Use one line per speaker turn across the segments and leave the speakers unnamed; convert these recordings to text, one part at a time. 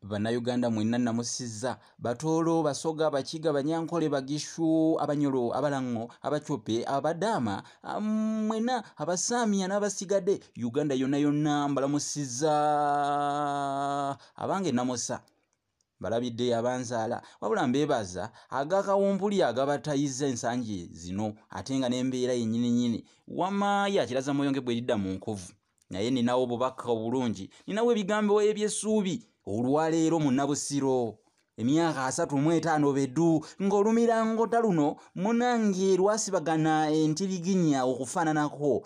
bannayuganda mwenna namusiza batoolo basoga bakiga banyankole bagishu abanyolo abalango abacope abadaama mwena abasaamiya n'abasigadde uganda yonna yonna mbalamusiza abange namusa mbalabidde yabanzaala wabula mbeebaza agakawumpuli agabatayizza ensangi zino ate nga n'embeera yennyini nyini wama yakiraza mwoyo nge bweridda mu nkovu naye ninawo obubaka obulungi ninawo ebigambo eby'essuubi olwaleero munnabusiro emyaka asatu mu etaano bedu ng'olumirango taluno munange lwasibagana entiriginya okufaananako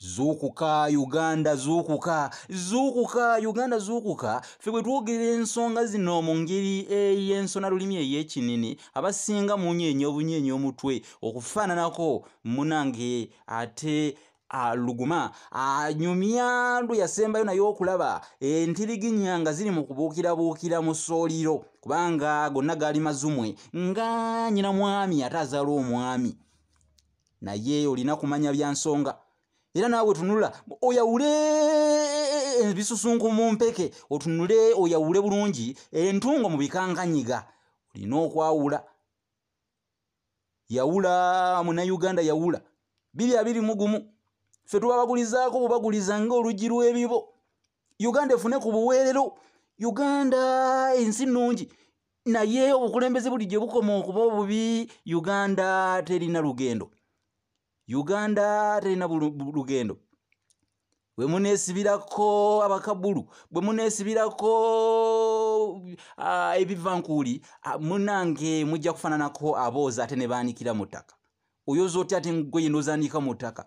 zuukuka uganda zuukuka zuukuka uganda zuukuka ffe bwe twogera ensonga zino mu ngeri ey'ensona lulimi ey'ekinini abasinga munyeenya obunyeenya omutwe okufaananako munange ate aluguma anyumya lwe yasembayo naye okulaba entiriginya nga ziri mu kubuukirabuukira mu sooliro kubanga gonna gaali mazumwe nga nyina mwami ate azaala omwami naye olina kumanya bya nsonga era naawe tunula oyawule ebisusunku eh, mu mpeke otunule oyawule bulungi entungo mu bikanganyiga olina okwawula yawula munauganda yawula biri abiri mugumu ffe tubabagulizaako bubaguliza ngaoluggi lw'ebibo uganda efune ku buweerero uganda ensi nnungi naye obukulembeze bulijjo bukoma okuba obubi uganda terina lugendo uganda terina lugendo bwe muneesibirako abakabulu bwe muneesibirako ah, ebivankuuli ah, munange mujja kufaananako aboozi ate ne baanikira mu ttaka oyooza otya ate ngoye nozaaniika mu ttaka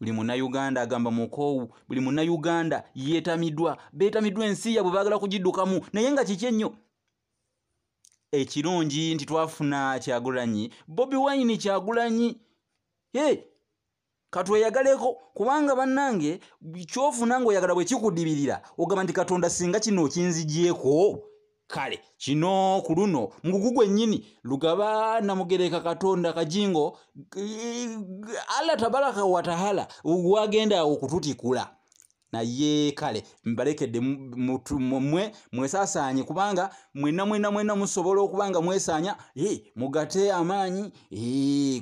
buli munayuganda agamba mukoowu buli munayuganda yetamidwa betamidwa ensi yabwe bagala kugidukamu naye nga kiki ennyo ekirungi nti twafuna kyagulanyi bobi wayini kyagulanyi e katweyagaleko kubanga bannange kyofuna ngaoyagala bwekikudibirira ogamba nti katonda singa kino okinzigyeko kale kino ku luno mugugu gwennyini lugaba namugereka katonda kajingo allah tabaraka watahala wagenda okututikula naye kale mbalekedde mwe mwesasaanye kubanga mwena mwena mwena musobola okuba nga mwesaanya mugate amaanyi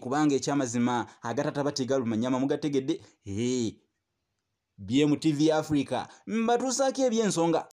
kubanga ekyamazima agatatabategalumanyama mugategedde bmtv africa mbatuusaako ebyensonga